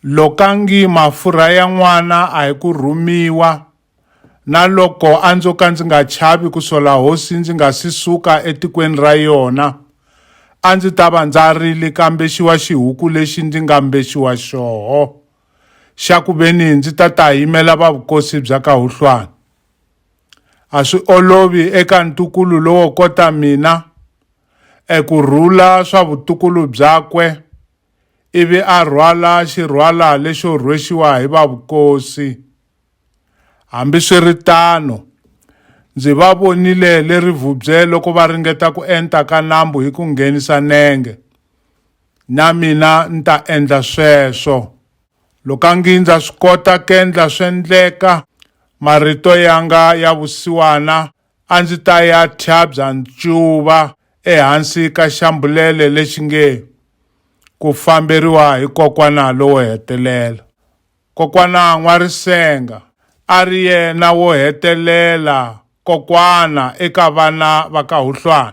Lokangi mafurha ya n'wana a hi ku rhumiwa, na loko a ndzo ka ndzi nga chavi ku sola hosi ndzi nga si suka etikweni ra yona, a ndzi ta va ndza rili kambe xiwa xihuku lexi ndzi nga mbexiwa xoho, xa ku veni ndzi ta ta yimela va vukosi bya ka Huhlwana. A swi olovi eka ntukulu lowo kota mina eku rhula swa vutukulu byakwe ivi a rhwala xirhwala lexo rhwexiwa hi va vukosi. Hambiswiritano, ndzi va vonile le rivubye loko va ringeta ku enta ka nambu hi ku nghenisa nenge. Na mina ni ta endla sweswo. Lokangi ndza swi kota kendla swendleka, marito yanga ya vusiwana a ndzi ta ya thyabya ncuva ehansi ka xambulele lexi nge ku famberiwa hi kokwana lowo hetelela kokwana n'warisenga a ri yena wo hetelela kokwana eka vana va ka huhlwana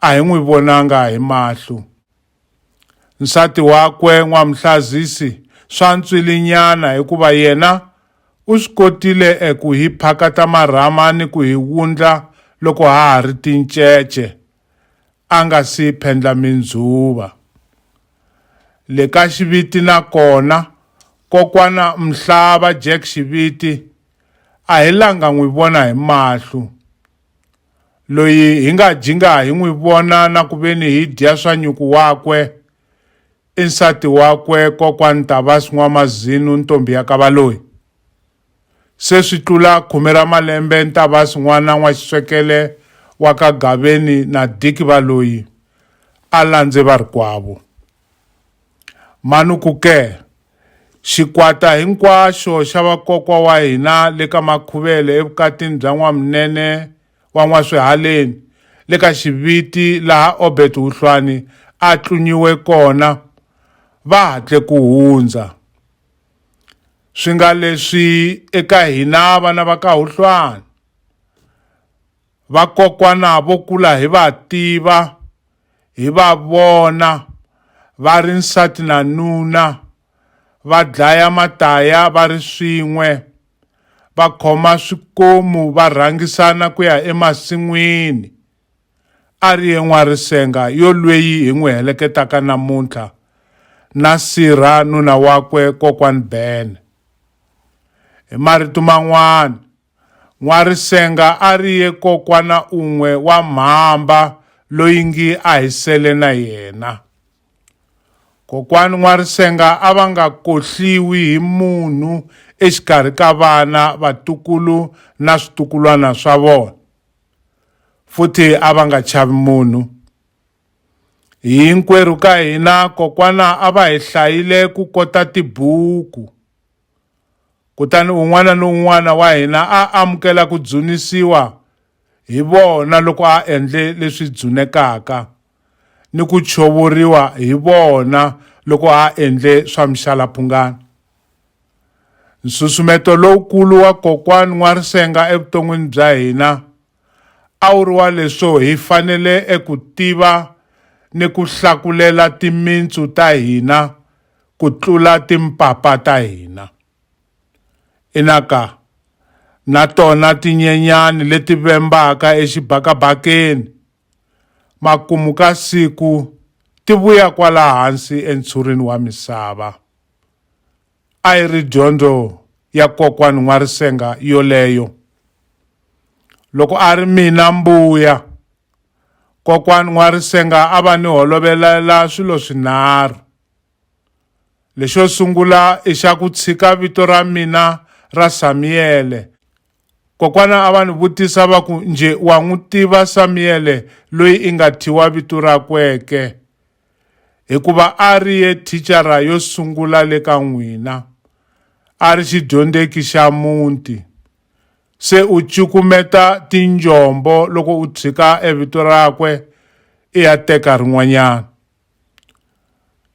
a hi n'wi vonanga hi mahlo. Nsati wakwe N'wamhlazisi swa ntswilinyana hikuva yena u swi kotile eku hi phakata marhama ni ku hi wundla loko ha ha ri tincece, a nga si phendla mindzuva. Le ka Xiviti na kona, kokwana Mhlava Jack Xiviti a hi langa n'wi vona hi mahlo. loyi hi nga jinga hi n'wi vona na ku veni hi dya swa nyuku wakwe i nsati wakwe kokwani Tabas N'wamazinu ntombi ya ka Valoyi se swi tlula khume ra malembe Ntabas n'wana n'wa xiswekele wa ka Gaveni na Diki Valoyi a landze varikwavo mani ku ke Xikwata hinkwaxo xa vakokwa wa hina le ka Makhuvele evukatini bya N'wamunene wa N'waswihaleni le ka Xiviti laha Obert Huhlwani a tlunyiwe kona va hatle ku hundza. Swi nga leswi eka hina vana va ka Huhlwani, vakokwana vo kula hi va tiva, hi va vona va ri nsati na nuna va dlaya mataya va ri swin'we va khoma swikomu va rhangisana ku ya emasin'wini a ri ye n'warisenga yo lweyi hi n'wi heleketaka namuntlha na sirha nuna wakwe kokwani bene hi marito man'wana N'warisenga a ri ye kokwana un'we wa mhamba loyi ngi a hi sele na yena. Kokwani N'warisenga a va nga kohliwi hi munhu exikarhi ka vana, vatukulu na switukulwana swa vona, futhi a va nga chavi munhu. Hinkwerhu ka hina kokwana a va hi hlayile ku kota tibuku. Kutani un'wana ni un'wana wa hina a amukela ku dzunisiwa hi vona loko a endle leswi dzunekaka, ni ku chovoriwa hi vona loko a endle swa mixalaphungana. Nsusumeto lowukulu wa Kokwani N'warisenga evuton'wini bya hina a wu ri wa leswo hi fanele eku tiva ni ku hlakulela timintsu ta hina ku tlula timpapa ta hina. Inaka, na tona tinyenyani leti vembaka exibakabakeni, makumu ka siku ti vuya kwala hansi entshurini wa misava. a yi ri dyondzo ya kokwani N'warisenga yoleyo. Loko a ri mina Mbuya, kokwani N'warisenga a va ni holovelela swilo swinharhu. Lexo sungula i xa ku tshika vito ra mina ra Samiyele. Kokwana a va ni vutisa va ku nje wa n'wi tiva Samiyele loyi i nga thyiwa vito rakwe ke? hikuva a ri ye thicara yo sungula le ka n'wina, a ri xidyondzeki xa muti. Se u cukumeta tinjombo loko u tshika evito rakwe i ya teka rin'wanyana.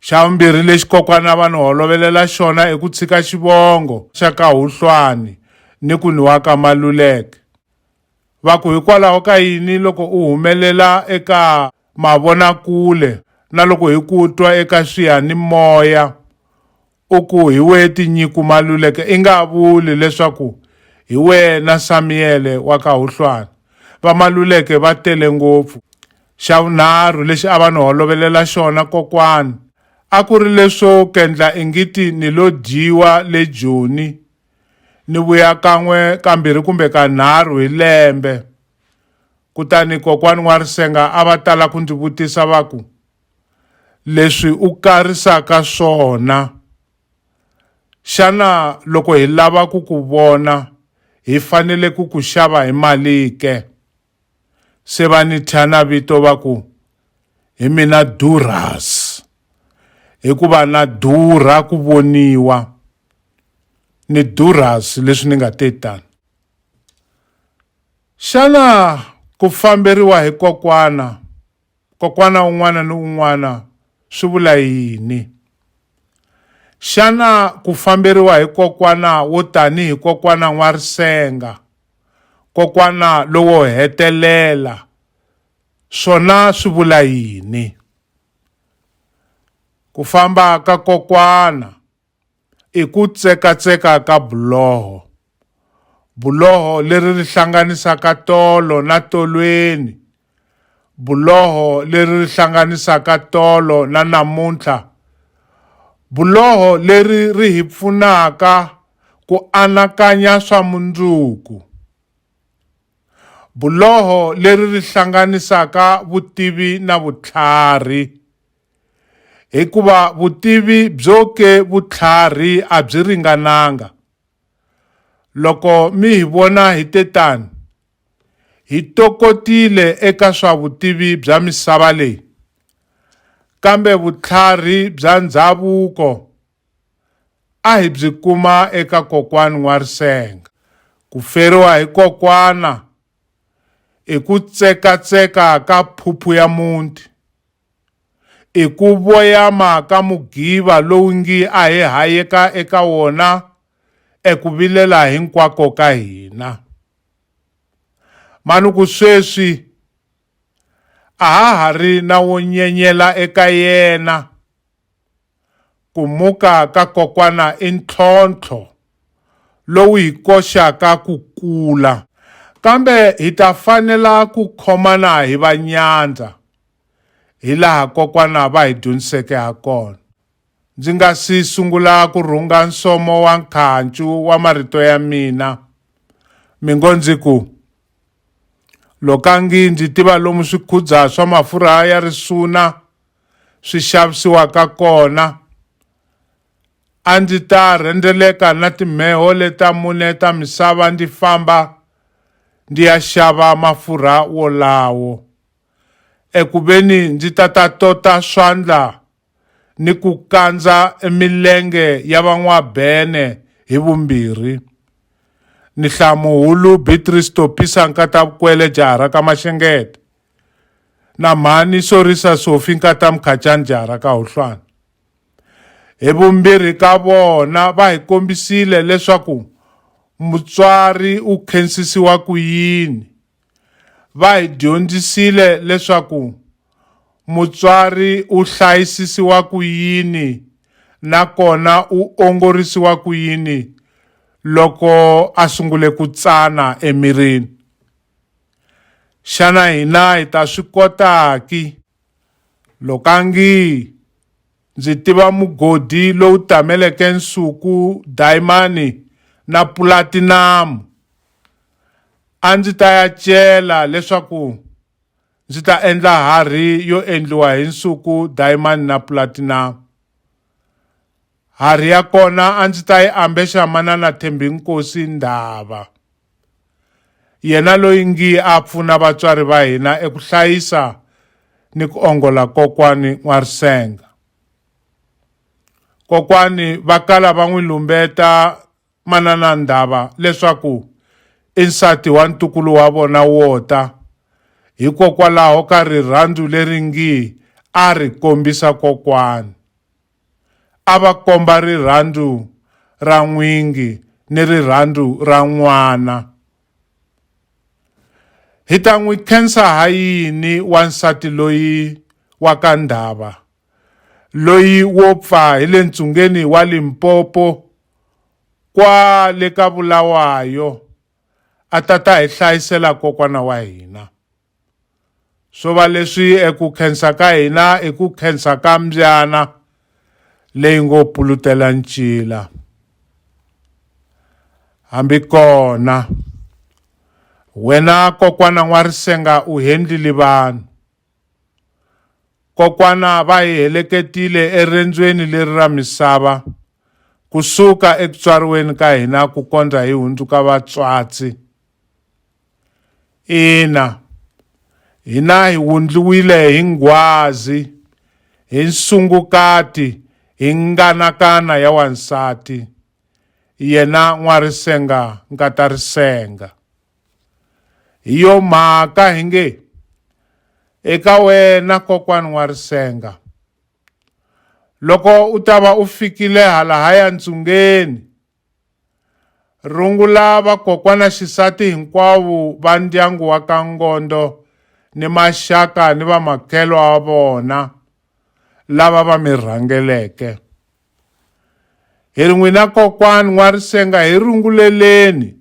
Xa vumbirhi lexi kokwana va ni holovelela xona i ku tshika xivongo xa ka Huhlwani ni ku ni wa ka Maluleke. Va ku, Hikwalaho ka yini loko u humelela eka mavonakule na loko hi ku twa eka swiyanimoya u ku hi wehe tinyiku maluleke, i nga vuli leswaku hi wena Samiyele wa ka Huhlwana? Vamaluleke va tele ngopfu. Xa vunharhu lexi a va ni holovelela xona kokwani a ku ri leswo kendla ingiti ni lo dyiwa le Joni. Ni vuya kan'we kambirhi kumbe kanharhu hi lembe. Kutani kokwani N'warisenga a va tala ku ndzi vutisa va ku, leswi u karisaka swona xana loko hi lava ku ku vona hi fanele ku ku xava hi mali ke? se va ni thya na vito va ku hi mina durhas hikuva na durha ku voniwa ni durhas leswi ni nga te tani xana ku famberiwa hi kokwana Kokwana un'wana ni un'wana swi vula yini? Xana ku famberiwa hi kokwana wo tanihi Kokwana N'warisenga, Kokwana lowo hetelela, swona swi vula yini? Ku famba ka Kokwana. i ku tsekatseka ka buloho. Buloho leri ri hlanganisaka tolo na tolweni, buloho leri ri hlanganisaka tolo na namuntlha, buloho leri ri hi pfunaka ku anakanya swa mundzuku, buloho leri ri hlanganisaka vutivi na vutlhari. Hikuva vutivi byo ke vutlhari a byi ringananga. Loko mi hi vona hi te tani, hi tokotile eka swa vutivi bya misava leyi, kambe vutlhari bya ndhavuko a hi byi kuma eka kokwani N'warisenga. Ku feriwa hi kokwana i ku tsekatseka ka phuphu ya muti. i ku voyama ka mugiva lowu ngi a hi hayeka eka wona eku vilela hinkwako ka hina. Mani ku sweswi a ha ha ri na wo nyenyela eka yena Ku muka ka kokwana i ntlhontlho lowu hi koxaka ku kula, kambe hi ta fanela ku khomana hi va nyandza hilaha kokwana va hi dyondziseke ha kona. Ndzi nga si sungula ku rhunga nsomo wa nkhancu wa marito ya mina, mi ngo ndzi ku, Lokangi ndzi tiva lomu swikhudza swa mafurha ya risuna, swi xavisiwaka kona a ndzi ta rhendzeleka na timheho leta mune ta misava ndzi famba ndzi ya xava mafurha wolawo eku veni ndzi ta ta tota swandla ni ku kandza emilenge ya van'wabene hi vumbirhi ni hlamuhulu Beatrice Topisa Nkatavukwele Jaharaka Maxengete na mhani sorisa sofi nkata mukhachani jara ka huhlwana hi vumbirhi ka vona va hi kombisile leswaku mutswari u khensisiwa ku yini va hi dyondzisile leswaku mutswari u hlayisisiwa ku yini nakona u ongorisiwa ku yini loko a sungule ku tsana emirini Xana hina hi ta swi kota ki? Lokangi ndzi tiva mugodi lowu tameleke nsuku, dayimani na pulatinamu. A ndzi ta ya cela leswaku ndzi ta endla harhi yo endliwa hi nsuku, dayimani na pulatinamu. Hari ya kona a ndzi ta yi ambexa manana Thembinkosi Ndhava, yena loyi ngi a pfuna vatswari va hina eku hlayisa ni ku ongola kokwani N'warisenga. Kokwani va kala va n'wi lumbeta manana Ndhava leswaku i nsati wa ntukulu wa vona wo ta, hikokwalaho ka rirhandzu leri ngi a ri kombisa kokwani. a va komba rirhandzu ra n'wingi ni rirhandzu ra n'wana. Hi ta n'wi khensa ha yini wansati loyi wa ka Ndhava, loyi wo pfa hi le ntsungeni wa Limpopo kwale ka Bulawayo a ta ta hi hlayisela kokwana wa hina? swo va leswi eku khensa ka hina i ku khensa ka mbyana leyi ngo pulutela ncila hambi kona wena kokwana n'warisenga u hendlile vanhu kokwana va hi heleketile erendzweni leri ra misava kusuka ekutswariweni ka hina ku kondza hi hundzuka vatswatsi Ina, hina hi wundliwile hi nghwazi, hi nsungukati, hi nganakana ya wansati, yena n'warisenga nkatarisenga. Hi yo mhaka hi nge, Eka wena kokwani n'warisenga, loko u ta va u fikile halahaya ntsungeni, Rungula vakokwana xisati hinkwavo va ndyangu wa ka Ngondo ni maxaka ni vamakhelo wa vona lava va mi rhangeleke. Hi ri n'wina kokwani N'warisenga hi runguleleni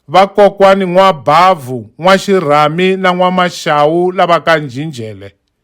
vakokwani N'wabavhu, N'waxirhami na N'wamaxawu lava ka Njhinjhele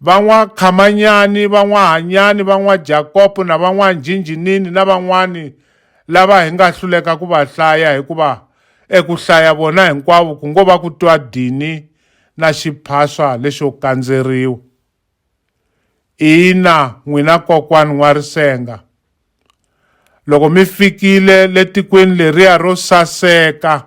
van'wakhamanyani, van'wahanyani, van'wajakopo na van'wanjhinjhinini na van'wani lava hi nga hluleka ku va hlaya hikuva eku hlaya vona hinkwavo ku ngo va ku twa dini na xiphaswa lexo kandzeriwa. Ina n'wina kokwani N'warisenga, loko mi fikile le tikweni leriya ro saseka,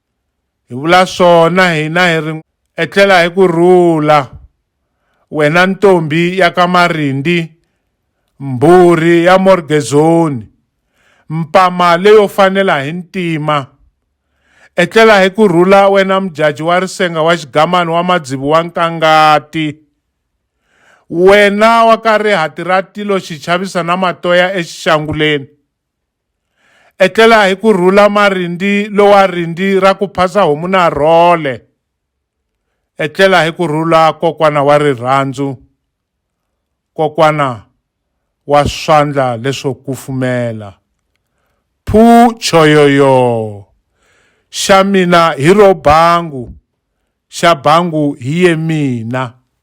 Hi vula swona hina hi ri etlela hi ku rhula, wena ntombi ya ka Marindi, mbhuri ya Morgezoni, mpama leyo fanela hi ntima! Etlela hi ku rhula wena mudyaji wa risenga wa xigamani wa madzivi wa Nkangati! Wena wa ka Rihati ra tilo xi chavisa na matoya exixanguleni! Etlela hi ku rhula marindi lowa rindi ra ku phasa homu na rhole. Etlela hi ku rhula kokwana wa rirhandzu, kokwana wa swandla leswo kufumela. Phu choyoyo! Xa mina hi ro bangu, xa bangu hi ye mina.